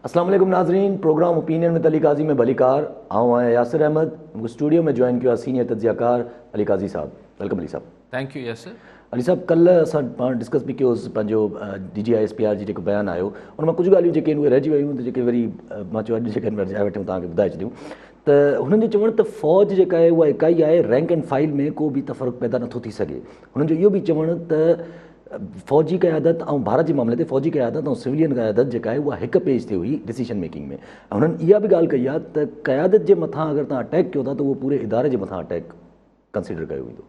اسلام عليڪم ناظرين programme opinion with Ali Qazi ۾ به علي ڪار آئون آهيان ياسر احمد مون کي اسٽوڊيو ۾ جوائن ڪيو آهي سينيئر تجزيه ڪار علي قاضي صاحب ويلڪم علي صاحب ٿينڪ يو ياسر علي صاحب ڪلهه اسان پاڻ ڊسڪس به ڪيو هوس پنهنجو D G I S P R جي جيڪو بيان آيو ان مان ڪجهه ڳالهيون جيڪي آهن اهي رهجي ويون ته جيڪي وري مان چيو اڄ جيڪي آهن ورجائي وٺيون توهان کي ٻڌائي ڇڏيون ته هنن جو چوڻ ته فوج جيڪا آهي اها اڪائي آهي رينڪ اينڊ فائيل ۾ ڪو به تفرق پيدا نٿو ٿي سگهي هنن جو اهو به چوڻ ته فوجي قيادت ۽ ڀارت جي معاملي تي فوجي قيادت ۽ سولين قيادت جيڪا آهي اها هڪ پيج تي هئي ڊسيشن ميڪنگ ۾ هنن اها به ڳالهه ڪئي آهي ته قيادت جي مٿان اگر تان اٽيڪ ڪيو ٿا ته اهو پوري اداري جي مٿان اٽيڪ ڪنسيڊر ڪيو ويندو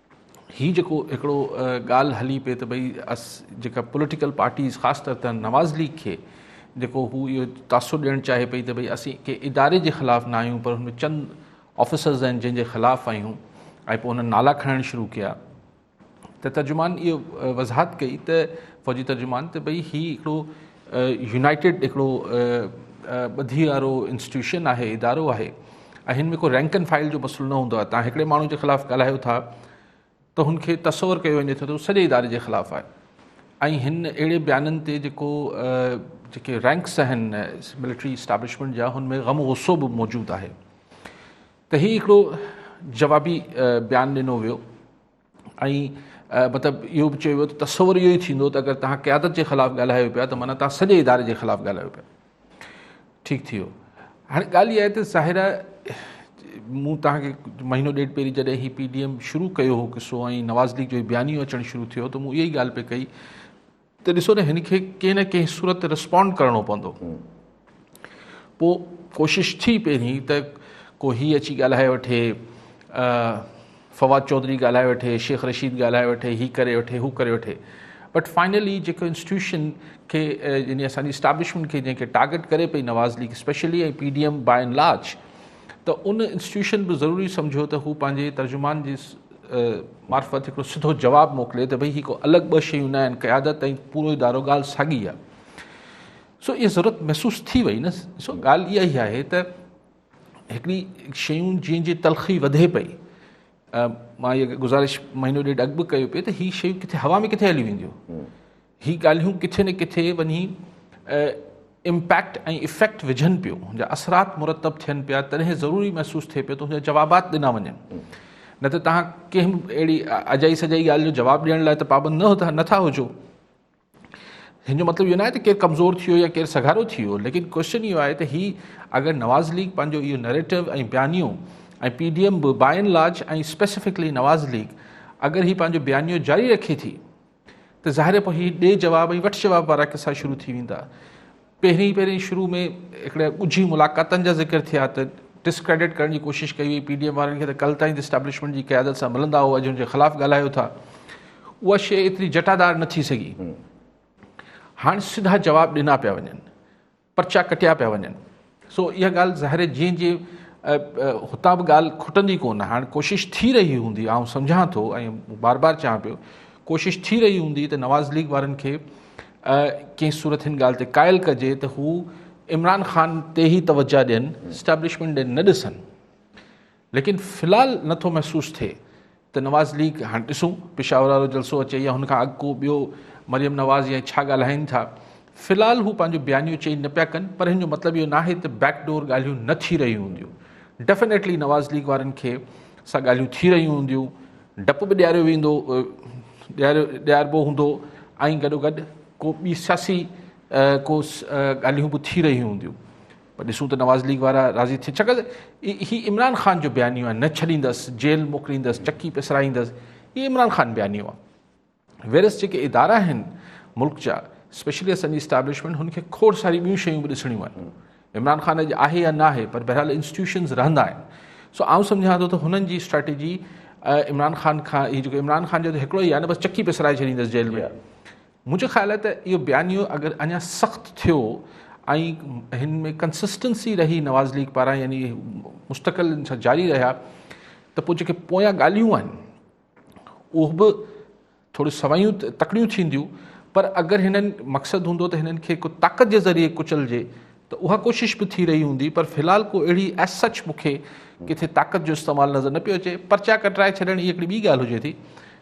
هي جيڪو هڪڙو ڳالهه هلي پئي ته ڀئي اس جيڪا پوليٽيڪل پارٽيز خاص طور تي نواز ليگ کي جيڪو هو اهو تاثر ڏيڻ چاهي پئي ته ڀئي اسين ڪنهن اداري جي خلاف نا آهيون پر هن ۾ چند آفيسرز آهن جن جي خلاف آهيون ۽ پوء هنن نالا کڻڻ شروع ڪيا ته ترجمان اهو وضاحت ڪئي ته فوجي ترجمان ته ڀئي هي هڪڙو يونائيٽيڊ هڪڙو ٻڌي وارو انسٽيٽيوشن آهي ادارو آهي ۽ هن ۾ ڪو رينڪ اينڊ فائل جو مسئلو نه هوندو آهي تان هڪڙي ماڻهو جي خلاف ڳالهايو ٿا ته هن کي تصور ڪيو وڃي ٿو ته هو سڄي اداري جي خلاف آهي ۽ هن اهڙي بيانن تي جيڪو جيڪي رينڪس آهن ملٽري اسٽابلشمنٽ جا هن ۾ غم غصو به موجود آهي ته هي هڪڙو جوابي بيان ڏنو ويو ۽ مطلب اهو به چيو ويو ته تصور اهو ئي ٿيندو ته اگر توهان قيادت جي خلاف ڳالهايو پيا ته معنيٰ توهان سڄي اداري جي خلاف ڳالهايو پيا ٺيڪ ٿي ويو هاڻي ڳالهه اها آهي ته ظاهر آهي مون توهان کي مهينو ڏيڍ پهرين جڏهن هي پي ڊي ايم شروع ڪيو هو قصو ۽ نواز ليگ جو بيانيو اچڻ شروع ٿيو ته مون اها ئي ڳالهه پئي ڪئي ته ڏسو نه هن کي ڪنهن نه ڪنهن صورت تي رسپونڊ ڪرڻو پوندو پوء ڪوشش ٿي پهرين ته ڪو هي اچي ڳالهائي وٺي فواد چوڌري ڳالهائي وٺي شيخ رشيد ڳالهائي وٺي هي ڪري وٺي هو ڪري وٺي بٽ فائنلي جيڪو انسٽيٽيوشن کي يعني اسان جي اسٽابلشمنٽ کي جنهن کي ٽارگيٽ ڪري پئي Nawaz league specially ۽ P D M by and large ته ان انسٽيٽيوشن به ضروري سمجهيو ته هو پنهنجي ترجمان جي معرفت هڪڙو سڌو جواب موڪلي ته ڀئي هي ڪو الڳ ٻه شيون نه آهن قيادت ۽ پورو ادارو ڳالهه ساڳي آهي سو اها ضرورت محسوس ٿي وئي نه سو ڳالهه اها ئي آهي ته هڪڙي شيون جنهن جي تلخي وڌي پئي مان هيء گزارش مهينو ڏيڍ اڳ به ڪيو پئي ته هي شيون ڪٿي هوا ۾ ڪٿي هليون وينديون هي ڳالهيون ڪٿي نه ڪٿي وڃي امپيڪٽ ۽ افيڪٽ وجهن پيو هن جا اثرات مرتب ٿين پيا تڏهن ضروري محسوس ٿئي پيو ته هن جا جوابات ڏنا وڃن نه ته تهان ڪنهن به اهڙي اجائي سجائي ڳالهه جو جواب ڏيڻ لاء ته پابند نه نٿا هجو هن جو مطلب اهو نه آهي ته ڪير ڪمزور ٿي ويو يا ڪير سگهارو ٿي ويو ليڪن ڪوشچن اهو آهي ته هي اگر نواز ليگ پنهنجو اهو نريٽو ۽ بيانيو ۽ پي ڊي ايم به by and large ۽ specifically Nawaz league اگر هي پنهنجو بيانيو جاري رکي ٿي ته ظاهر پوء هي ڏي جواب ۽ وٺ جواب وارا قصا شروع ٿي ويندا. پهرين پهرين شروع ۾ هڪڙي ڳجهي ملاقاتن جا ذڪر ٿيا ته ڊسڪريڊٽ ڪرڻ جي ڪوشش ڪئي وئي، پي ڊي ايم وارن کي ته ڪل تائين اسٽيبلشمينٽ جي قيادت سان ملندا هئا جن جي خلاف ڳالهايو ٿا اها شيء ايتري جٽادار نه ٿي سگهي. هاڻ سڌا جواب ڏنا پيا وڃن. پرچا ڪٽيا پيا وڃن سو اها ڳالهه ظاهر جيئن جي هتان به ڳالهه کٽندي ڪونه هاڻ ڪوشش ٿي رهي هوندي آئون سمجهان ٿو ۽ بار بار چوان پيو ڪوشش ٿي رهي هوندي ته نواز ليگ وارن کي ڪنهن صورت هن ڳالهه تي قائل ڪجي ته هو عمران خان تي ئي توجه ڏين اسٽيبلشمنٽ ڏي نه ڏسن ليڪن في الحال نه ٿو محسوس ٿئي ته نواز ليگ هاڻ ڏسون پشاور وارو جلسو اچي يا هن کان اڳ ڪو ٻيو مريم نواز يا ڇا ڳالهائين ٿا في الحال هو پنهنجو بيانيو چينج نه پيا ڪن پر هن جو مطلب اهو ناهي ته بيڪ ڊور ڳالهيون نه ٿي رهيون هونديون ڊيفينيٽلي نواز ليگ وارن کي سا ڳالهيون ٿي رهيون هونديون ڊپ به ڏياريو ويندو ڏياريو ڏياربو هوندو ۽ گڏو گڏ ڪو ٻي سياسي ڪو ڳالهيون به ٿي رهيون هونديون پر ڏسون ته نواز ليگ وارا راضي ٿين ڇاڪاڻ ته هي عمران خان جو بيانيو آهي نه ڇڏيندس جيل موڪليندس چڪي پسرائيندس هي عمران خان بيانيو آهي ويرس جيڪي ادارا آهن ملڪ جا اسپيشلي اسان جي اسٽيبلشمنٽ هن کي کوڙ ساري ٻيون شيون به ڏسڻيون آهن عمران خان اڄ آهي يا نه آهي پر بهرحال انسٽيوشنز رهندا آهن سو آئون سمجھان ٿو ته هنن جي اسٽريٽجي عمران خان کان هي جيڪو عمران خان جو ته هڪڙو ئي آهي نه بس چڪي پسرائي ڇڏيندس جيل ۾ منهنجو خيال آهي ته اهو بيانيو اگر اڃا سخت ٿيو ۽ هن ۾ ڪنسسٽنسي رهي نواز ليگ پاران يعني مستقل ان سان جاري رهيا ته پوء جيڪي پويان ڳالهيون آهن اهو به ٿوريون سويون تڪڙيون ٿينديون پر اگر هنن مقصد هوندو ته هنن کي ڪو طاقت جي ذريعي ڪچلجي ته اها ڪوشش به ٿي رهي هوندي پر في الحال ڪو اهڙي ايس سچ مون کي ڪٿي طاقت جو استعمال نظر نه پيو اچي پرچا ڪٽرائي ڇڏڻ هي هڪڙي ٻي ڳالهه هجي ٿي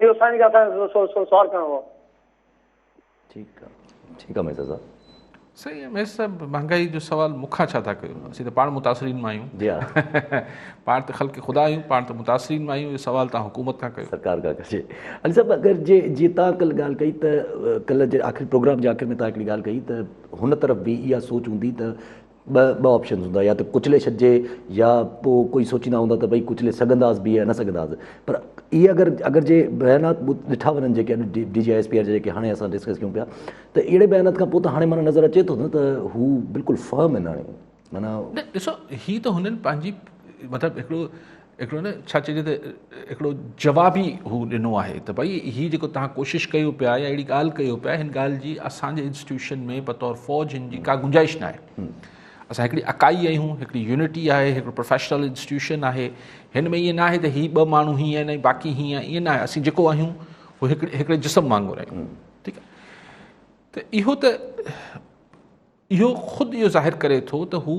اهو سائين کي اسان کي سوال ڪرڻو هو. ٺيڪ آ ٺيڪ آ ميسر صاحب. سائين ميسر صاحب مهانگائي جو سوال مون کان ڇا ٿا ڪيو اسين ته پاڻ متاثرين مان آهيون جي ها پاڻ ته خلق خدا آهيون پاڻ ته متاثرين مان آهيون اهو سوال تان حڪومت کان ڪيو سرڪار کان ڪجي علي صاحب اگر جي جي تان ڪل ڳالهه ڪئي ته ڪل جي آخر پروگرام جي آخر ۾ تان هڪڙي ڳالهه ڪئي ته هن طرف به اها سوچ هوندي ته ٻه ٻه آپشنز هوندا يا ته ڪچلي ڇڏجي يا پوء ڪوئي سوچيندا هوندا ته ڀئي ڪچلي سگهنداس به يا نه سگهنداس پر اهي اگر اگر جي بيانات ڏٺا وڃن جيڪي اڄ D G S P R جي جيڪي هاڻي اسان ڊسڪس ڪيون پيا ته اهڙي بيانات کان پوء ته هاڻي معنيٰ نظر اچي ٿو نه ته هو بلڪل فرم آهن هاڻي معنيٰ نه ڏسو هي ته هنن پنهنجي مطلب هڪڙو هڪڙو نه ڇا چئجي ته هڪڙو جواب ئي هو ڏنو آهي ته ڀئي هي جيڪو تهان ڪوشش ڪيو پيا يا اهڙي ڳالهه ڪيو پيا هن ڳالهه جي اسان جي انسٽيٽيوشن ۾ بطور فوج هن جي ڪا گنجائش ناهي اسان هڪڙي اڪائي آهيون هڪڙي يونٽي آهي هڪڙو پروفيشنل انسٽيٽيوشن آهي هن ۾ ائين ناهي ته هي ٻه ماڻهو هيئن آهن ۽ باقي هيئن آهن ائين ناهي اسين جيڪو آهيون هو هڪڙي هڪڙي جسم وانگر آهيون ٺيڪ آهي ته اهو ته اهو خود اهو ظاهر ڪري ٿو ته هو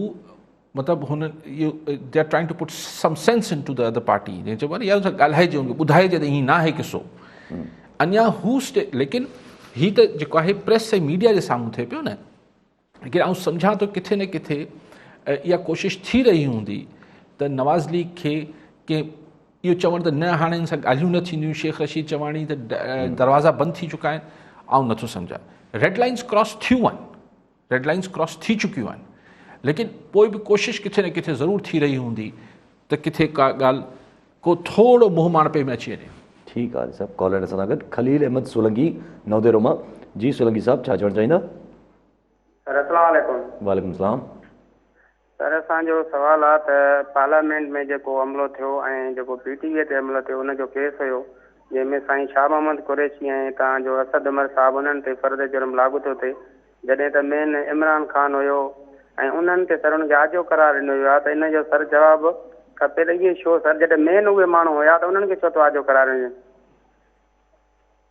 مطلب هن اهو they are trying to put some sense into the other party جنهن چئبو آهي نه يار سان ڳالهائجي ان کي ٻڌائجي ته ائين ناهي قصو اڃا هو اسٽي ليڪن هي ته جيڪو آهي پريس ۽ ميڊيا جي سامهون ٿئي پيو نه لیڪن آئون سمجھان ٿو ڪٿي نه ڪٿي اها ڪوشش ٿي رهي هوندي ته نواز ليگ کي ڪنهن اهو چوڻ ته نه هاڻي ان سان ڳالهيون نه ٿينديون شيخ رشيد چواڻي ته دروازا بند ٿي چڪا آهن آئون نٿو سمجهان ريڊ لائنس ڪراس ٿيون آهن ريڊ لائنس ڪراس ٿي چڪيون آهن ليڪن پوء به ڪوشش ڪٿي نه ڪٿي ضرور ٿي رهي هوندي ته ڪٿي ڪا ڳالهه ڪو ٿورو منهن ماڻپي ۾ اچي وڃي ٺيڪ آهي صاحب ڪالر سان گڏ خليل احمد سولنگي نوديرو مان جي سولنگي صاحب ڇا چوڻ چاهيندا سر السلام عليڪم وعليڪم السلام سر اسان جو سوال آ ته پارليامينٽ ۾ جيڪو حملو ٿيو ۽ جيڪو پي ٽي وي تي حملو ٿيو ان جو ڪيس هيو جنهن ۾ سائين شاهه محمد قريشي ۽ تان جو اسد عمر صاحب انهن تي فرد جرم لاڳو ٿيو ٿي جڏهن ته مين عمران خان هيو ۽ انهن تي سر ان کي آجو قرار ڏنو ويو آ ته ان جو سر جواب کپي ته اهي شو سر جڏهن مين اهي ماڻهو هيا ته انهن کي ڇو ٿو آجو قرار ڏني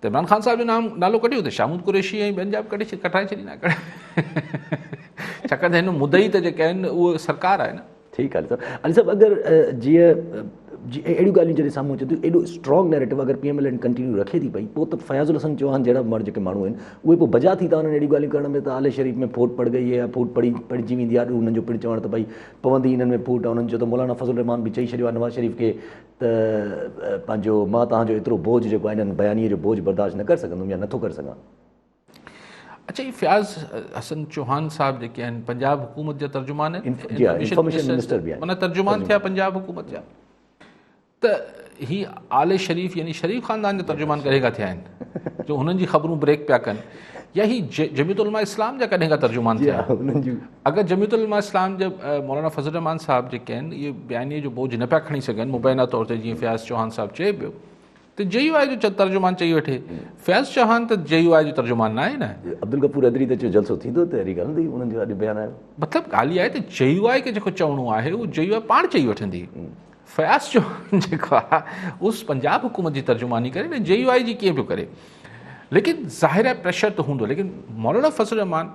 ته عمران خان صاحب جو نام نالو ڪڍيو ته شاهمود قريشي ۽ ٻين جا به ڪڍي ڪٽرائي ڇڏيندا ڇاڪاڻ ته هن مدعي ته جيڪي آهن اهو سرڪار آهي نه ٺيڪ علي صاحب علي صاحب اگر جيئن جي اهڙيون ڳالهيون جڏهن سامهون اچن ٿيون ايڏو اسٽرانگ نيريٽو اگر P M L N continue رکي ٿي پئي پوء ته فياض الحسن چوهان جهڙا ماڻهو جيڪي ماڻهو آهن اهي پوء بجا ٿي ٿا وڃن اهڙيون ڳالهيون ڪرڻ ۾ ته آل شريف ۾ ڦوٽ پڙ گئي يا ڦوٽ پڙي پڙجي ويندي آڏو هنن جو پڻ چوڻ ته ڀئي پوندي هنن ۾ ڦوٽ آهي هنن چيو ته مولانا فضل الرحمان به چئي ڇڏيو آهي نواز شريف کي ته پنهنجو مان توهان جو ايترو بوجهه جيڪو آهي هن بيانيي جو بوجهه برداشت نه ڪري سگهندم يا نٿو ڪري سگهان. اڇا هي فياض حسن چوهان صاحب جيڪي آهن پنجاب حڪومت جا ترجمان آهن جي ها انفارميشن منسٽر به آهن معنيٰ ترجمان ٿيا پنجاب حڪومت جا ته هي آل شريف يعني شريف خاندان جا ترجمان ڪڏهن کان ٿيا آهن جو هنن جي خبرون بريڪ پيا ڪن يا هي جميعت علماء اسلام جا ڪڏهن کان ترجمان ٿيا اگر جميعت علماء اسلام جا مولانا فضل الرحمان صاحب جيڪي آهن اهي بيانيي جو بوجھ نه پيا کڻي سگهن مبينا طور تي جيئن فياض چوهان صاحب چئي پيو ته جي يو آء جو ترجمان چئي وٺي فياض چوهان ته جي يو آء جو ترجمان نه آهي نه عبدالغفور حيدري ته چيو جلسو ٿيندو تحريڪ هلندي انهن جو اڄ بيان آيو مطلب ڳالهه اها آهي ته جي يو آء کي جيڪو چوڻو آهي اهو جي يو آء پاڻ چئي وٺندي فياض چوهان جيڪو آهي اس پنجاب حڪومت جي ترجماني ڪري نه جي يو آء جي ڪيئن پيو ڪري ليڪن ظاهر آهي پريشر ته هوندو ليڪن مولانا فضل الرحمان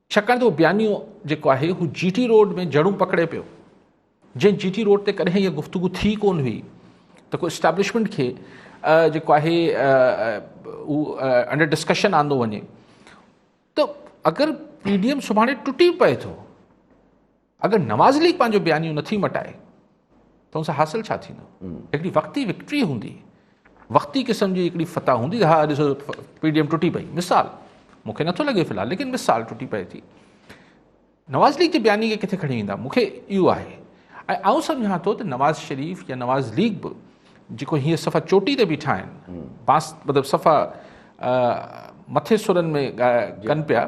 ڇاڪاڻ ته اهو بيانيو جيڪو آهي هو جي ٽي روڊ ۾ جڙون پڪڙي پيو جنهن جي ٽي روڊ تي ڪڏهن اها گفتگو ٿي ڪونه هئي ته ڪو اسٽيبلشمينٽ کي جيڪو آهي اهو انڊر ڊسڪشن آندو وڃي ته اگر پي ڊي ايم سڀاڻي ٽٽي پئي ٿو اگر نواز ليگ پنهنجو بيانيو نٿي مٽائي ته ان سان حاصل ڇا ٿيندو هڪڙي وقتي وڪٽري هوندي وقتي قسم جي هڪڙي فتح هوندي ها ڏسو پي ڊي ايم ٽٽي پئي مثال مونکي نٿو لڳي في الحال ليڪن مثال ٽٽي پئي ٿي نواز ليگ جي بياني کي ڪٿي کڻي ويندا مونکي اهو آهي ۽ آئون سمجهان ٿو ته نواز شريف يا نواز ليگ به جيڪو هيئن صفا چوٽي تي بيٺا آهن بانس مطلب صفا مٿي سرن ۾ ڪن پيا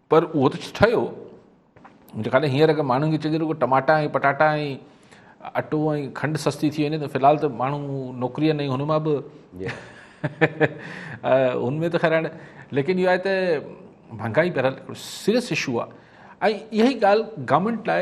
پر اهو ته ٺهيو جي ڪڏهن هينئر اگر ماڻهن کي چئجي رڳو ٽماٽا ۽ پٽاٽا ۽ اٽو ۽ کنڊ سستي ٿي وڃي ته فلحال ته ماڻهو نوڪري ۽ هن مان به هن ۾ ته خير هاڻي ليڪن اهو آهي ته مهانگائي بهرحال سيريس اشو آهي ۽ اها ئي ڳالهه گورنمينٽ لاء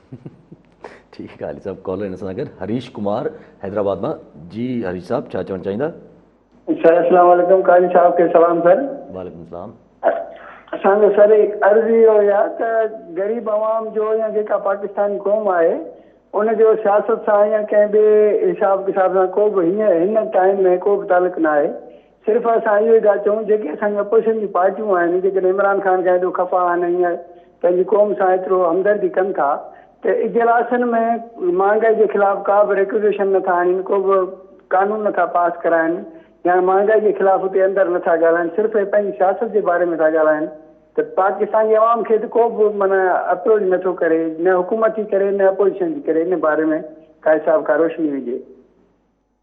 ٺيڪ آهي علي صاحب ڪالر ان سان گڏ هريش ڪمار حيدرآباد مان جي هريش صاحب ڇا چوڻ چاهيندا سر السلام عليڪم قاضي صاحب کي سلام سر وعليڪم السلام اسان جو سر عرض اهو هي ته غريب عوام جو يا جيڪا پاڪستاني قوم آهي ان جو سياست سان يا ڪنهن ٻي حساب ڪتاب سان ڪو به هن ٽائيم ۾ ڪو به تعلق ناهي صرف اسان اهو ئي ٿا چئون جيڪي اسان جون اپوزيشن جون پارٽيون آهن جيڪڏهن عمران خان کان ايڏو خفا آهن ۽ ائين پنهنجي قوم سان ايترو همدردي ڪن ٿا ته اجلاسن ۾ مهانگائي جي خلاف ڪا به ريڪوزيشن نه ٿا آڻين ڪو به قانون نه ٿا پاس ڪرائين يا مهانگائي جي خلاف اتي اندر نه ٿا ڳالهائين صرف اهي پنهنجي سياست جي باري ۾ ٿا ڳالهائين ته پاڪستان جي عوام کي ته ڪو به معنيٰ اپروچ نه ٿو ڪري نه حڪومت جي ڪري نه اپوزيشن جي ڪري ان باري ۾ ڪا حساب ڪا روشني هجي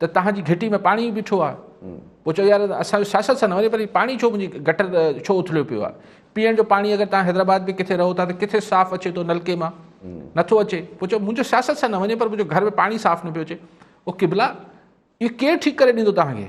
ته توهان جي گهٽي ۾ پاڻي ئي بيٺو آهي. پوء چئو يار اسان جو سياست سان نه وڃي پر پاڻي ڇو منهنجي گٽر ڇو اٿليو پيو آهي. پيئڻ جو پاڻي اگر توهان حيدرآباد ۾ ڪٿي رهو ٿا ته ڪٿي صاف اچي ٿو نلڪي مان نٿو اچي پوء چئو منهنجو سياست سان نه وڃي پر منهنجو گهر ۾ پاڻي صاف نه پيو اچي او قبلا اهو ڪير ٺيڪ ڪري ڏيندو توهان کي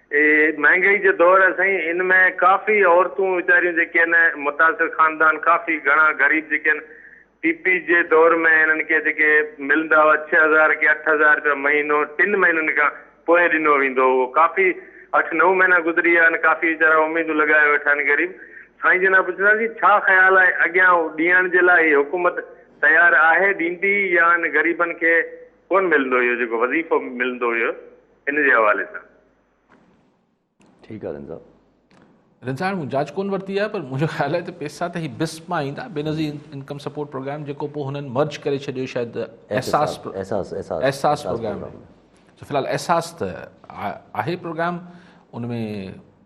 اي مهانگائي جو دور آهي سائين ان ۾ ڪافي عورتون ويچاريون جيڪي آهن متاثر خاندان ڪافي گهڻا غريب جيڪي آهن پي پي جي دور ۾ انهن کي جيڪي ملندا هئا ڇهه هزار ڪي اٺ هزار رپيا مهينو ٽن مهينن کان پوء ڏنو ويندو هو اهو ڪافي اٺ نو مهينا گذري ويا آهن ڪافي ويچارا اميدون لڳائي ويٺا آهن غريب سائين جناب پڇنداسين ڇا خيال آهي اڳيان ڏيڻ جي لاء هي حڪومت تيار آهي ڏيندي يا ان غريبن کي ڪون ملندو اهو جيڪو وظيفو ملندو هيو ان جي حوالي سان. ٺيڪ آ رند صاحب. رند صاحب مون جاچ ڪون ورتي آهي پر منهنجو خيال آهي ته پيسا ته هي بسپ مان ايندا بينظير انڪم سپورٽ پروگرام جيڪو پوء هنن مرج ڪري ڇڏيو شايد احساس احساس احساس پروگرام في الحال احساس ته آهي پروگرام ان ۾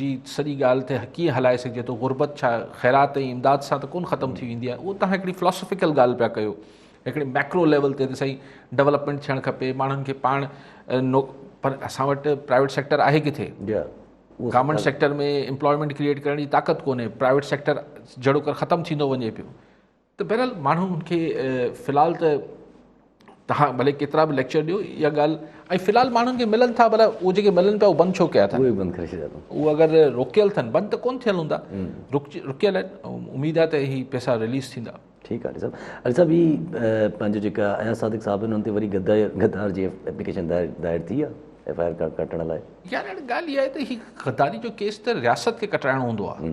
جي سڄي ڳالهه تي ڪيئن هلائي سگهجي ٿو غربت ڇا خيرات ۽ امداد سان ته ڪون ختم ٿي ويندي آهي اهو تهان هڪڙي فلاسفيڪل ڳالهه پيا ڪيو هڪڙي ميڪرو ليول تي ته سائين ڊيولپمينٽ ٿيڻ کپي ماڻهن کي پاڻ نو پر اسان وٽ پرائيويٽ سيڪٽر آهي ڪٿي گورمنٹ سيڪٽر ۾ امپلائمينٽ ڪريئيٽ ڪرڻ جي طاقت ڪونهي پرائيويٽ سيڪٽر جهڙو ختم ٿيندو وڃي پيو ته بهرحال ماڻهو ان کي في الحال ته تهان ڀلي ڪيترا به ليڪچر ڏيو اها ڳالهه ۽ في الحال ماڻهن کي ملن ٿا بلا اهي جيڪي ملن پيا اهي بند ڇو ڪيا اٿن اهي بند ڪري ڇڏيا اٿن اهي اگر روڪيل اٿن بند ته ڪون ٿيل هوندا روڪيل آهن اميد آهي ته هي پيسا رليز ٿيندا ٺيڪ آهي علي صاحب علي صاحب هي پنهنجو جيڪا اياز صادق صاحب آهن انهن تي وري غدار جي ايپليڪيشن دائر ٿي آهي ايف آء آر ڪاٽ ڪٽڻ لاء يار هاڻي ڳالهه اها آهي ته هي غداري جو ڪيس ته رياست کي ڪٽرائڻو هوندو آهي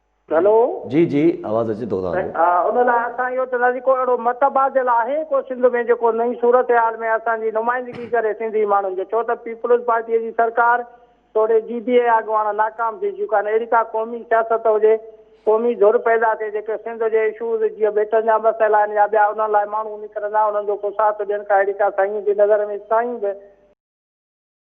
هلو جي جي آواز اچي ٿو تهان جو. ها ان لاء اسان اهو چونداسين ڪو اهڙو متبادل آهي ڪو سنڌ ۾ جيڪو نئين صورتحال ۾ اسان جي نمائندگي ڪري سنڌي ماڻهن جو ڇو ته پيپلز پارٽي جي سرڪار توڙي جي ڊي اي اڳواڻ ناڪام ٿي چڪا آهن اهڙي ڪا قومي سياست هجي قومي ڌر پيدا ٿئي جيڪي سنڌ جي اشوز جيئن ٻيٽن جا مسئلا آهن يا ٻيا انهن لاء ماڻهو نڪرندا انهن جو ڪو ساٿ ڏين ڪا اهڙي ڪا سائين جي نظر ۾ سائين به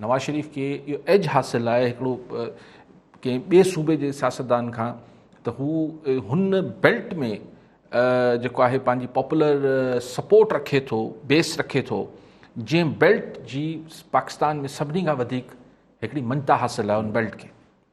نواز شريف کي اهو ايج حاصل آهي هڪڙو ڪنهن ٻئي صوبي جي سياستدان کان ته هو هن بيلٽ ۾ جيڪو آهي پنهنجي پاپولر سپورٽ رکي ٿو بيس رکي ٿو جنهن بيلٽ جي پاڪستان ۾ سڀني کان وڌيڪ هڪڙي مڃتا حاصل آهي ان بيلٽ کي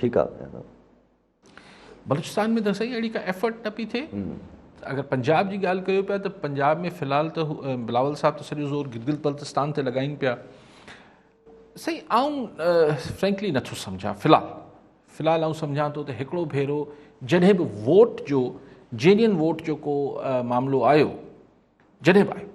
ٺيڪ آ ميان صاحب. بلوچستان ۾ ته سائين اهڙي ڪا ايفرٽ نه پئي ٿئي اگر پنجاب جي ڳالهه ڪيو پيا ته پنجاب ۾ في الحال ته بلاول صاحب ته سڄو زور گلگل بلتستان تي لڳائين پيا سائين آئون فرينڪلي نٿو سمجھان في الحال في الحال آئون سمجھان ٿو ته هڪڙو ڀيرو جڏهن به ووٽ جو جينين ووٽ جو ڪو معاملو آيو جڏهن به آيو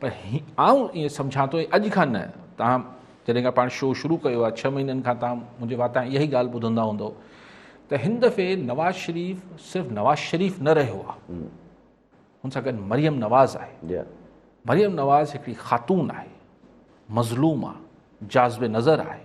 پر آئون ائين سمجهان ٿو ۽ اڄ کان نه تهان جڏهن کان پاڻ شو شروع ڪيو آهي ڇهه مهينن کان تهان منهنجي واتان اها ئي ڳالهه ٻڌندا هوندو ته هن دفعي نواز شريف صرف نواز شريف نه رهيو آهي هن سان گڏ مريم نواز آهي مريم نواز هڪڙي خاتون آهي مظلوم آهي جاذب نظر آهي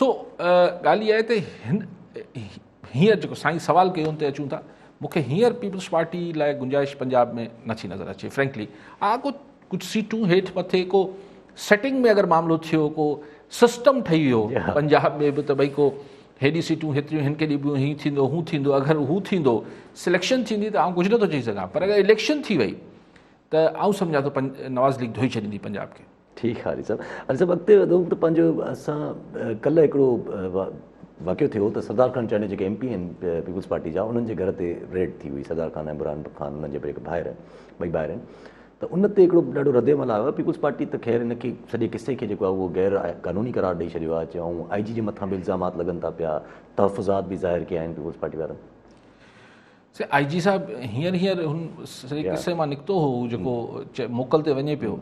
سو ڳالهه اها آهي ته هن هينئر جيڪو سائين سوال ڪيو ان تي اچون ٿا مون کي هينئر پيپلز پارٽي لاء گنجائش پنجاب ۾ نٿي نظر اچي فرينڪلي آ ڪو ڪجهه سيٽون هيٺ مٿي ڪو سيٽنگ ۾ اگر معاملو ٿيو ڪو سسٽم ٺهي ويو جي ها. پنجاب ۾ به ته ڀئي ڪو هيڏي سيٽون هيتريون هن کي ڏبيون هي ٿيندو هو ٿيندو اگر هو ٿيندو سليڪشن ٿيندي ته آئون ڪجهه نٿو چئي سگهان پر اگر اليڪشن ٿي وئي ته آئون سمجهان ٿو نواز ليگ ڌوئي ڇڏيندي پنجاب کي ٺيڪ آ علي صاحب. علي صاحب اڳتي وڌو ته پنهنجو اسان ڪلهه هڪڙو واقعو ٿيو ته سردار خان چانڊيو جيڪي ايم پي آهن پيپلز پارٽي جا انهن جي گهر تي ريڊ ٿي هئي سردار خان ۽ عمران خان انهن جا هڪ ڀائر ٻئي ڀائر آهن ته ان تي هڪڙو ڏاڍو رد عمل آيو آهي پيپلز پارٽي ته خير ان کي سڄي قصي کي جيڪو آهي اهو غير قانوني قرار ڏئي ڇڏيو آهي چيو آئون آئي جي جي مٿان به الزامات لڳن ٿا پيا تحفظات به ظاهر ڪيا آهن پيپلز پارٽي وارن سي آء جي صاحب هينئر هينئر هن سڄي قصي مان نڪتو هو هو جيڪو موڪل تي وڃي پيو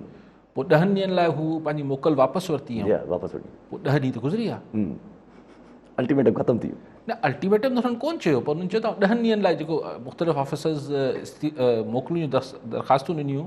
پوء ڏهن ڏينهن لاء هو پنهنجي موڪل واپس ورتي واپس ورتي پوء ڏهه ڏينهن ته گذري ويا الٽيميٽم ختم ٿي ويو نه الٽيميٽم ته هن ڪون چيو پر هن چيو ته ڏهن ڏينهن لاء جيڪو مختلف آفيسرز موڪلون درخواستون ڏنيون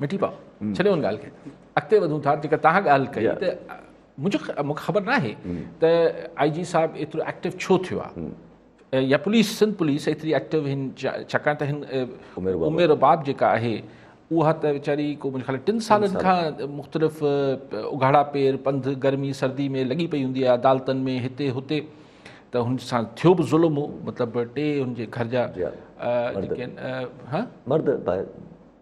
مٺي پاء ڇڏيو ان ڳالهه کي اڳتي وڌون ٿا جيڪا تان ڳالهه ڪئي ته منهنجو مونکي خبر نه آهي ته آئي جي صاحب ايترو ايڪٽو ڇو ٿيو آهي يا پوليس سنڌ پوليس ايتري ايڪٽو هن ڇاڪاڻ ته هن عمر باب جيڪا آهي اها ته ويچاري کو منهنجي خيال ٽن سالن کان مختلف اگهاڙا پير پنڌ گرمي سردي ۾ لڳي پئي هوندي آهي عدالتن ۾ هتي هتي ته هن سان ٿيو به ظلم هو مطلب ٽي هن جي گهر جا جي آهن مرد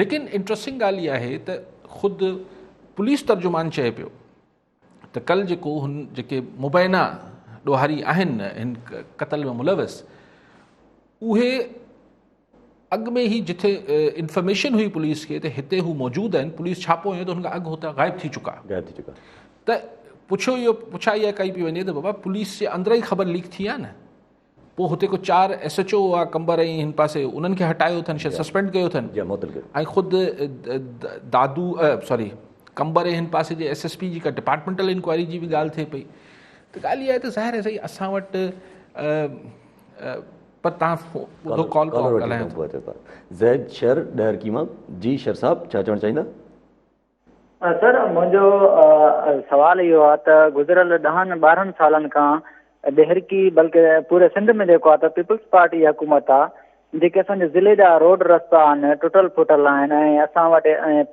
ليڪن انٽرسٽنگ ڳالهه اها آهي ته خود پوليس ترجمان چئي پيو ته ڪل جيڪو هن جيڪي مبينا ڏوهاري آهن هن قتل ۾ ملوث اهي اڳ ۾ هي جتي انفارميشن هئي پوليس کي ته هتي هو موجود آهن پوليس ڇاپو هيو ته هن کان اڳ هتان غائب ٿي چڪا غائب ٿي چڪا ته پڇو اهو پڇا اها ڪئي پئي وڃي ته بابا پوليس جي اندر ئي خبر ليڪ ٿي آ نه پوء هتي ڪو چار ايس ايڇ او هئا قمبر ۽ هن پاسي انهن کي هٽايو اٿن شايد سسپينڊ ڪيو اٿن ۽ خود دادو سوري قمبر ۽ هن پاسي جي ايس ايس پي جيڪا ڊپارٽمينٽل انڪوائري جي به ڳالهه ٿئي پئي ته ڳالهه اها آهي ته ظاهر آهي سائين اسان وٽ پر تان ڪال ڪرو ڳالهايو زيد شر ڏهرڪي مان جي شر صاحب ڇا چوڻ چاهيندا سر منهنجو سوال اهو آهي ته گذريل ڏهن ٻارهن سالن کان ڏهرڪي بلڪه پوري سنڌ ۾ جيڪو آهي پيپلز پارٽي جي حڪومت آهي جيڪي اسان ضلعي جا روڊ رستا آهن ٽٽل ڦٽل آهن ۽ اسان وٽ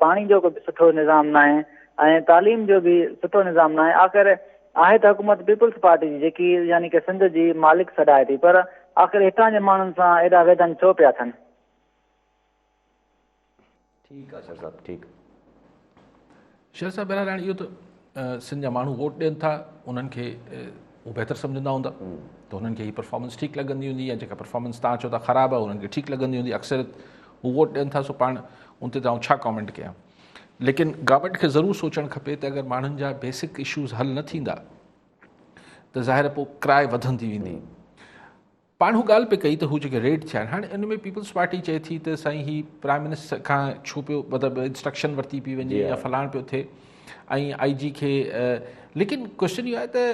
پاڻي جو به سٺو نظام ناهي ۽ تعليم جو به سٺو نظام ناهي آخر آهي ته حڪومت پيپلز پارٽي جي جيڪي يعني ڪي سنڌ جي مالڪ سڏائي ٿي پر آخر هتان جي ماڻهن سان ايڏا ويڌن ڇو پيا ٿين ٺيڪ آ شر صاحب ٺيڪ. شر صاحب بهرحال هاڻي اهو ته سنڌ جا ماڻهو ووٽ ڏين ٿا انهن کي هو بهتر سمجهندا هوندا ته هنن کي هي پرفارمنس ٺيڪ لڳندي هوندي يا جيڪا پرفارمنس تان چئو ٿا خراب آهي هنن کي ٺيڪ لڳندي هوندي اڪثريت هو ووٽ ڏين ٿا سو پاڻ ان تي آئون ڇا ڪامينٽ ڪيان ليڪن گورنمنٽ کي ضرور سوچڻ کپي ته اگر ماڻهن جا بيسڪ اشوز حل نه ٿيندا ته ظاهر پوء ڪراء وڌندي ويندي پاڻ هو ڳالهه پئي ڪئي ته هو جيڪي ريڊ ٿيا آهن هاڻي ان ۾ پيپلز پارٽي چئي ٿي ته سائين هي پرائم منسٽر کان ڇو پيو مطلب انسٽرڪشن ورتي پئي وڃي يا فلاڻ پيو ٿئي ۽ آئي جي کي ليڪن ڪوشچن اهو آهي ته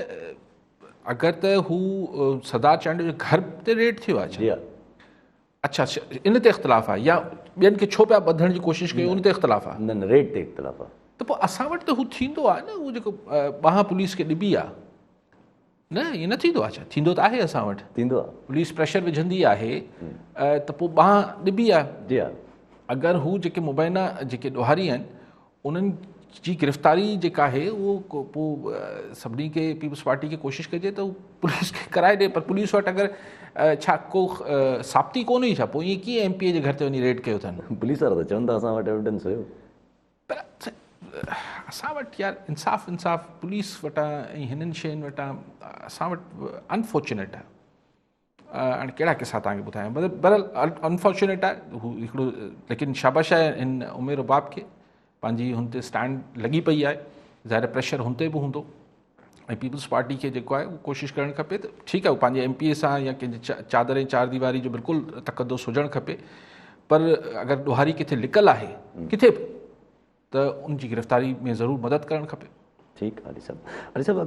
اگر ته هو سردار چانڊيو جو گھر تي ريڊ ٿيو آهي اچھا ان تي اختلاف آهي يا ٻين کي ڇو پيا ٻڌڻ جي ڪوشش ڪيو ان تي اختلاف آهي نه نه ريڊ تي اختلاف آهي ته پوء اسان وٽ ته هو ٿيندو آهي نه هو جيڪو ٻانهن پوليس کي ڏبي آهي نه ائين نه ٿيندو آهي ڇا ٿيندو ته آهي اسان وٽ ٿيندو آهي پوليس پريشر وجهندي آهي ته پوء ٻانهن ڏبي آهي جي ها اگر هو جيڪي مبينا جيڪي ڏوهاري آهن انهن جي گرفتاري جيڪا آهي اهو پوء سڀني کي پيپلز پارٽي کي ڪوشش ڪجي ته پوليس کي ڪرائي ڏي پر پوليس وٽ اگر ڇا ڪو ثابتي ڪون هئي ڇا پوء ائين ڪيئن ايم پي اي جي گهر تي وڃي ريڊ ڪيو اٿن پوليس وارا ته چون ٿا اسان وٽ ايويڊنس هيو پر اسان وٽ يار انصاف انصاف پوليس وٽان ۽ هنن شين وٽان اسان وٽ انفارچونيٽ آهي هاڻي ڪهڙا قصا تان ٻڌايان برل انفارچونيٽ آهي هو هڪڙو ليڪن شابش آهي هن امير باب کي پنهنجي هن تي اسٽينڊ لڳي پئي آهي ظاهر پريشر هن تي به هوندو ۽ پيپلز پارٽي کي جيڪو آهي اهو ڪوشش ڪرڻ کپي ته ٺيڪ آهي پنهنجي ايم پي اي سان يا ڪنهن جي چادر ۽ چار ديواري جو بلڪل تقدس هجڻ کپي پر اگر ڏوهاري ڪٿي لڪل آهي ڪٿي به ته ان جي گرفتاري ۾ ضرور مدد ڪرڻ کپي ٺيڪ علي صاحب علي صاحب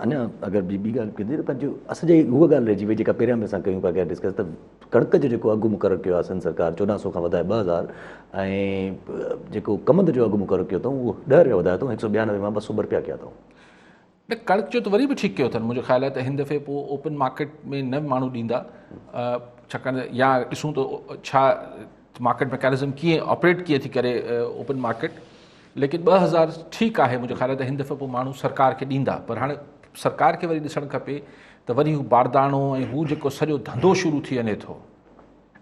اڃا اگر ٻي ٻي ڳالهه ڪجي ته پنهنجو اسان جي هوء ڳالهه رهجي وئي جيڪا پهريان به اسان ڪيون پيا ڪيا ڊسڪس ته ڪڻڪ جو جيڪو اگهه مقرر ڪيو آهي سنڌ سرڪار چوڏهن سؤ کان وڌائي ٻه هزار ۽ جيڪو ڪمند جو اگهه مقرر ڪيو اٿئون اهو ڏهه رپيا وڌايو اٿئون هڪ سؤ ٻيانوي مان ٻه سؤ ٻه رپيا ڪيا اٿئون. نه ڪڻڪ جو ته وري به ٺيڪ ڪيو اٿن منهنجو خيال آهي ته هن دفعي پوء اوپن مارڪيٽ ۾ نه ماڻهو ڏيندا ڇاڪاڻ ته يا ڏسون ته ڇا مارڪيٽ ميڪانزم ڪيئن آپريٽ ڪيئن ٿي ڪري اوپن مارڪيٽ ليڪن ٻه هزار ٺيڪ آهي منهنجي خيال ۾ ته هن دفعي پوء ماڻهو سرڪار کي ڏيندا پر هاڻي سرڪار کي وري ڏسڻ کپي ته وري هو بارداڻو ۽ هو جيڪو سڄو ڌنڌو شروع ٿي وڃي ٿو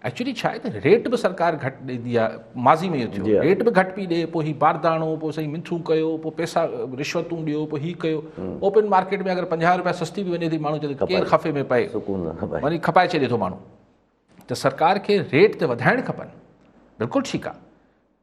ايڪچولي ڇا آهي ته ريٽ به سرڪار گهٽ ڏيندي آهي ماضي ۾ اهو ٿيو جي ريٽ به گهٽ پي ڏي پوء هي بارداڻو پوء سائين منٿون ڪيو پوء پيسا رشوتون ڏيو پوء هي ڪيو اوپن مارڪيٽ ۾ اگر پنجاهه روپيا سستي به وڃي ٿي ماڻهو چوي ٿو ڪير خفي ۾ پئي وڃي کپائي ڇڏي ٿو ماڻهو ته سرڪار کي ريٽ ته وڌائڻ کپن بلڪل ٺيڪ آهي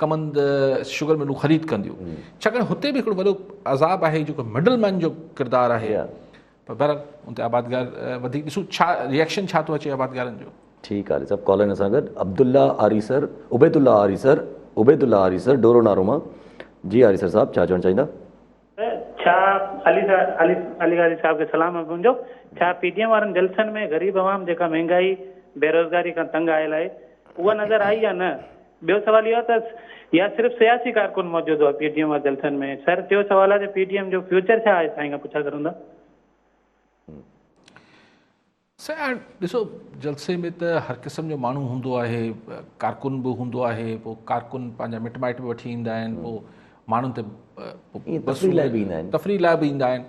ڪمند شگر ملون خريد ڪنديون ڇاڪاڻ هتي به هڪڙو وڏو عذاب آهي جيڪو مڊل مين جو ڪردار آهي پر بهرحال ان تي آبادگار وڌيڪ ڏسو ڇا ريئيڪشن ڇا ٿو اچي آبادگارن جو ٺيڪ آهي صاحب ڪالر سان گڏ عبد الله آري سر عبيد الله آري سر عبيد الله آري سر ڊورو نارو مان جي آري سر صاحب ڇا چوڻ چاهيندا ڇا علي علي غازي صاحب کي سلام آهي منهنجو ڇا پي ڊي ايم وارن جلسن ۾ غريب عوام جيڪا مهنگائي بيروزگاري کان تنگ آيل آهي اها نظر آئي يا نه ٻيو سوال اهو ته يا صرف سياسي ڪارڪن موجود هئا پي ڊي ايم وارن جلسن ۾ سر ٽيو سوال آهي ته پي ڊي ايم جو فيوچر ڇا آهي سائين کان پڇا سگهندا. سائين ڏسو جلسي ۾ ته هر قسم جو ماڻهو هوندو آهي ڪارڪن به هوندو آهي پو ڪارڪن پنهنجا مٽ مائٽ به وٺي ايندا آهن پو ماڻهن تي تفريح لاء به ايندا آهن تفريح لاء به ايندا آهن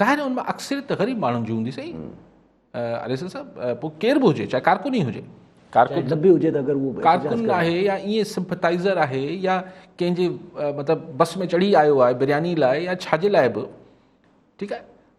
ظاهر آهي ان ۾ اڪثريت غريب ماڻهن جي هوندي سائين عليسن صاحب پو ڪير به هجي چاهي ڪارڪن ئي هجي ڪارڪن آهي يا ائين سمپتائزر آهي يا ڪنهن جي مطلب بس ۾ چڙهي آيو آهي برياني لاء يا ڇاجي لاء به ٺيڪ آهي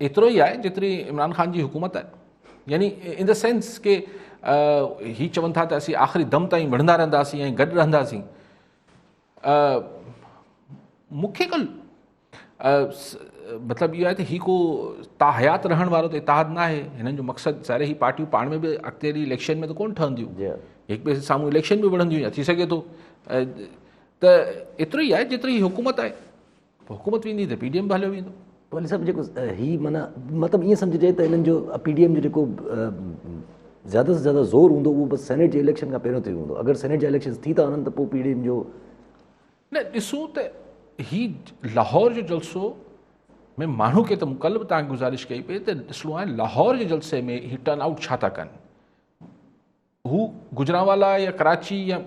ايترو ئي آهي جيتري عمران خان جي حڪومت آهي يعني ان دا سينس ڪي هي چون ٿا ته اسين آخري دم تائين وڙهندا رهنداسين ۽ گڏ رهنداسين مونکي ڪل مطلب اهو آهي ته هي ڪو تاحيات رهڻ وارو ته اتحاد نه آهي هنن جو مقصد ساري هي پارٽيون پاڻ ۾ به اڳتي ڏي اليڪشن ۾ ته ڪون ٺهنديون جي هڪ ٻئي سامهون اليڪشن به وڙهنديون ٿي سگهي ٿو ته ايترو ئي آهي جيتري هي حڪومت آهي حڪومت ويندي ته پي ڊي ايم به هليو ويندو. والي صاحب جيڪو هي معنيٰ مطلب ائين سمجهجي ته انهن جو پي ڊي ايم جو جيڪو زياده سان زياده زور هوندو اهو بس سينيٽ جي اليڪشن کان پهريون تي هوندو اگر سينيٽ جا اليڪشنز ٿي ٿا وڃن ته پوء پي ڊي ايم جو نه ڏسون ته هي لاهور جو جلسو ۾ ماڻهو کي ته ڪل به تان گزارش ڪئي پئي ته ڏسڻو آهي لاهور جي جلسي ۾ هي ٽرن آئوٽ ڇا ٿا ڪن هو گجرانوالا يا ڪراچي يا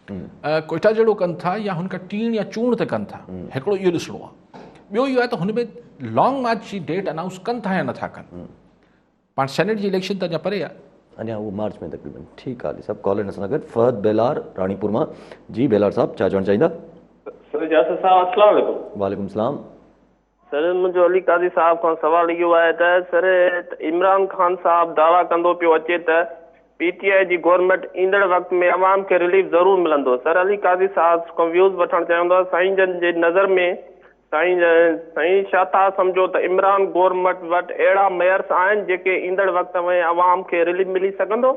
ڪوئيٽا جهڙو ڪن ٿا يا هن کان ٽيڻ يا چونڙ تي ڪن ٿا هڪڙو اهو ڏسڻو آهي ٻيو اهو آهي ته هن ۾ لانگ مارچ جي ڊيٽ اناؤنس ڪن ٿا يا نٿا ڪن پاڻ سينيٽ جي اليڪشن ته اڃا پري آهي اڃا اهو مارچ ۾ تقريبن ٺيڪ آهي علي صاحب ڪالر ان سان گڏ فهد بيلار راڻيپور مان جي بيلار صاحب ڇا چوڻ چاهيندا سر جاسر صاحب السلام عليڪم وعليڪم السلام سر منهنجو علي قاضي صاحب کان سوال اهو آهي ته سر عمران خان صاحب دعويٰ ڪندو پيو اچي ته پي ٽي آء جي گورنمينٽ ايندڙ وقت ۾ عوام کي رليف ضرور ملندو سر علي قاضي صاحب کان ويوز وٺڻ چاهيان ٿو سائين جن جي نظر ۾ سائين سائين ڇا ٿا سمجهو ته عمران گورنمينٽ وٽ اهڙا ميئرس آهن جيڪي ايندڙ وقت ۾ عوام کي رليف ملي سگهندو.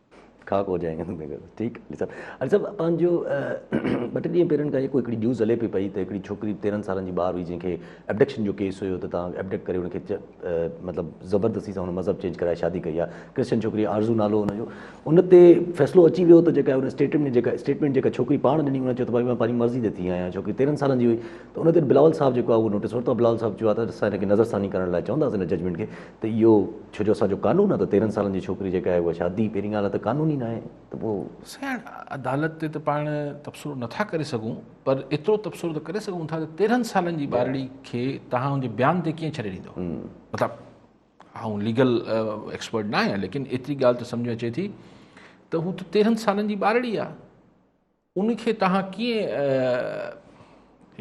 خاڪ هو جائيگا تم بيگھر ٺيڪ علي صاحب علي صاحب پنهنجو ٻه ٽي ڏينهن پهرين کان هڪڙي نيوز هلي پئي پئي ته هڪڙي ڇوڪري تيرهن سالن جي ٻار هئي جنهن کي ابڊڪشن جو ڪيس هيو ته تان ابڊڪٽ ڪري ان کي مطلب زبردستي سان هن مذهب چينج ڪرائي شادي ڪئي آهي ڪرسچن ڇوڪري آرزو نالو هن جو ان تي فيصلو اچي ويو ته جيڪا هن اسٽيٽمنٽ ۾ جيڪا اسٽيٽمنٽ جيڪا ڇوڪري پاڻ ڏني هن چيو ته ڀاء مان پنهنجي مرضي تي ٿي آهيان ڇوڪري تيرهن سالن جي هئي ته ان تي بلاول صاحب جيڪو آهي اهو نوٽيس ورتو بلاول صاحب چيو آهي ته اسان هن کي نظرثاني ڪرڻ لاء چونداسين هن ججمنٽ کي ته اهو ڇو جو اسان جو قانون آهي ته تيرهن سالن جي ڇوڪري جيڪا آهي اها شادي پهرين ڳالهه ته قانون ئي ناهي ته پوء. سياڻ عدالت تي ته پاڻ تبصرو نٿا ڪري سگهون پر ايترو تبصرو ته ڪري سگهون ٿا ته تيرهن سالن جي ٻارڙي کي توهان ان جي بيان تي ڪيئن ڇڏي ڏيندو مطلب آئون ليگل ايڪسپرٽ نه آهيان ليڪن ايتري ڳالهه ته سمجهه ۾ اچي ٿي ته هو ته تيرهن سالن جي ٻارڙي آهي ان کي توهان ڪيئن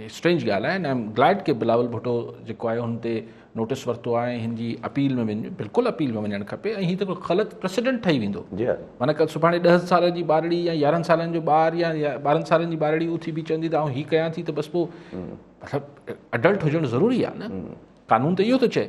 اسٽرينج ڳالهه آهي ايم گلائڊ ڪي بلاول ڀٽو جيڪو آهي هن تي نوٽس ورتو آهي هن جي اپيل ۾ وڃ بلڪل اپيل ۾ وڃڻ کپي ۽ هي ته غلط پريسيڊنٽ ٺهي ويندو جي معنی ڪل سڀاڻي ڏهن سالن جي ٻارڙي يا يارهن سالن جو ٻار يا ٻارهن سالن جي ٻارڙي اٿي بي چوندي ته آئون هي ڪيان ٿي ته بس پوء مطلب اڊلٽ هجڻ ضروري آهي نه قانون ته اهو ٿو چئي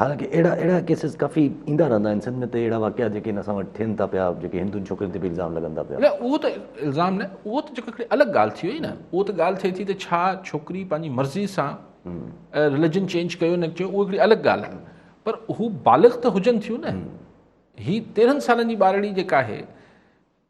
حالانڪه اهڙا اهڙا ڪيسز ڪافي ايندا رهندا آهن سنڌ ۾ ته اهڙا واقعا جيڪي هن اسان وٽ ٿين ٿا پيا جيڪي هندن ڇوڪرين تي به الزام لڳن ٿا پيا. نه اهو ته الزام نه اهو ته جيڪو هڪڙي الڳ ڳالهه ٿي وئي نه اهو ته ڳالهه ٿئي ٿي ته ڇا ڇوڪري پنهنجي مرضي سان رليجن چينج ڪيو نه ڪيو اهو هڪڙي الڳ ڳالهه آهي پر هو بالغ ته هجن ٿيون نه هي تيرهن سالن جي ٻارڙي جيڪا آهي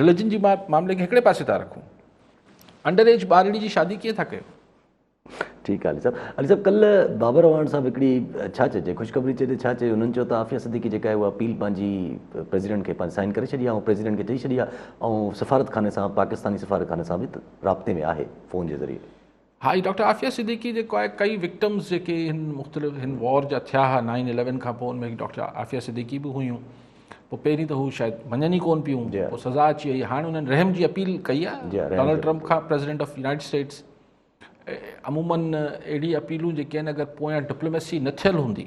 رليجن جي معاملي کي هڪڙي پاسي ٿا رکون انڊر ايج ٻارڙي جي شادي ڪيئن ٿا ڪيو. ٺيڪ آ علي صاحب علي صاحب ڪل بابر اعواڻ صاحب هڪڙي ڇا چئجي خوشخبري چئي ته ڇا چئي انهن چيو ته عافيه صديقي جيڪا آهي اها اپيل پنهنجي پريزيڊنٽ کي پنهنجي سائن ڪري ڇڏي آهي ۽ پريزيڊنٽ کي ڏئي ڇڏي آهي ۽ سفارتخاني سان پاڪستاني سفارتخاني سان به رابطي ۾ آهي فون جي ذريعي ها جي ڊاڪٽر عافيه صديقي جيڪو آهي ڪئي وڪٽمز جيڪي هن مختلف هن وار جا ٿيا ها نائن اليون کان پوء ان ۾ ڊاڪٽر عافيه صديقي به هيون پوء پهرين ته هو شايد مڃن ئي ڪون پيون جي. پوء سزا اچي وئي هاڻ انهن رحم جي اپيل ڪئي آهي جي. رحم ڊونلڊ جي. ٽرمپ کان پريزيڊنٽ آف يونائيٽيڊ اسٽيٽس عمومن اهڙي اپيلون جيڪي آهن اگر پويان ڊپلوميسي نه ٿيل هوندي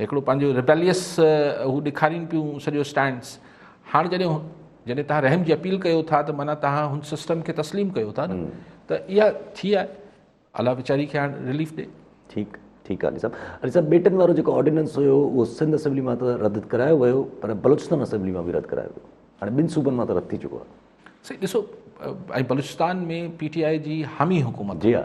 هڪڙو پنهنجو ريبيليس هو ڏيکارين پيون سڄو اسٽينڊس هاڻ جڏهن جڏهن تهان رحم جي اپيل ڪيو ٿا ته معنيٰ تهان هن سسٽم کي تسليم ڪيو ٿا نه ته اها ٿي آهي الله ويچاري کي هاڻ رليف ڏي ٺيڪ ٺيڪ آهي علي صاحب علي صاحب ٻيٽن وارو جيڪو آرڊيننس هيو اهو سنڌ اسيمبلي مان ته رد ڪرايو ويو پر بلوچستان اسيمبلي مان به رد ڪرايو ويو هاڻي ٻن صوبن مان ته رد ٿي چڪو آهي سائين ڏسو ۽ بلوچستان ۾ پي ٽي آء جي حامي حڪومت جي ها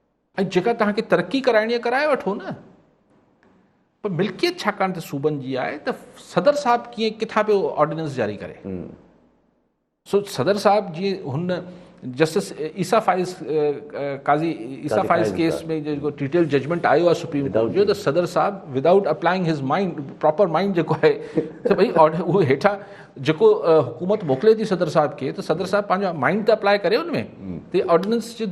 ۽ جيڪا توهان کي ترقي ڪرائڻي آهي ڪرائي وٺو نه پر ملڪيت ڇاڪاڻ ته صوبن جي آهي ته صدر صاحب ڪيئن ڪٿان پيو آرڊيننس جاري ڪري سو صدر صاحب جي هن جسٽس عيسا فائز قاضي عيسا فائز ڪيس ۾ جيڪو ڊيٽيل ججمنٽ آيو آهي سپريم ڪورٽ جو ته صدر صاحب without applying his mind proper mind جيڪو آهي ته ڀئي اهو هيٺان جيڪو حڪومت موڪلي ٿي صدر صاحب کي ته صدر صاحب پنهنجو مائنڊ ته اپلائي ڪري ان ۾ ته آرڊيننس جي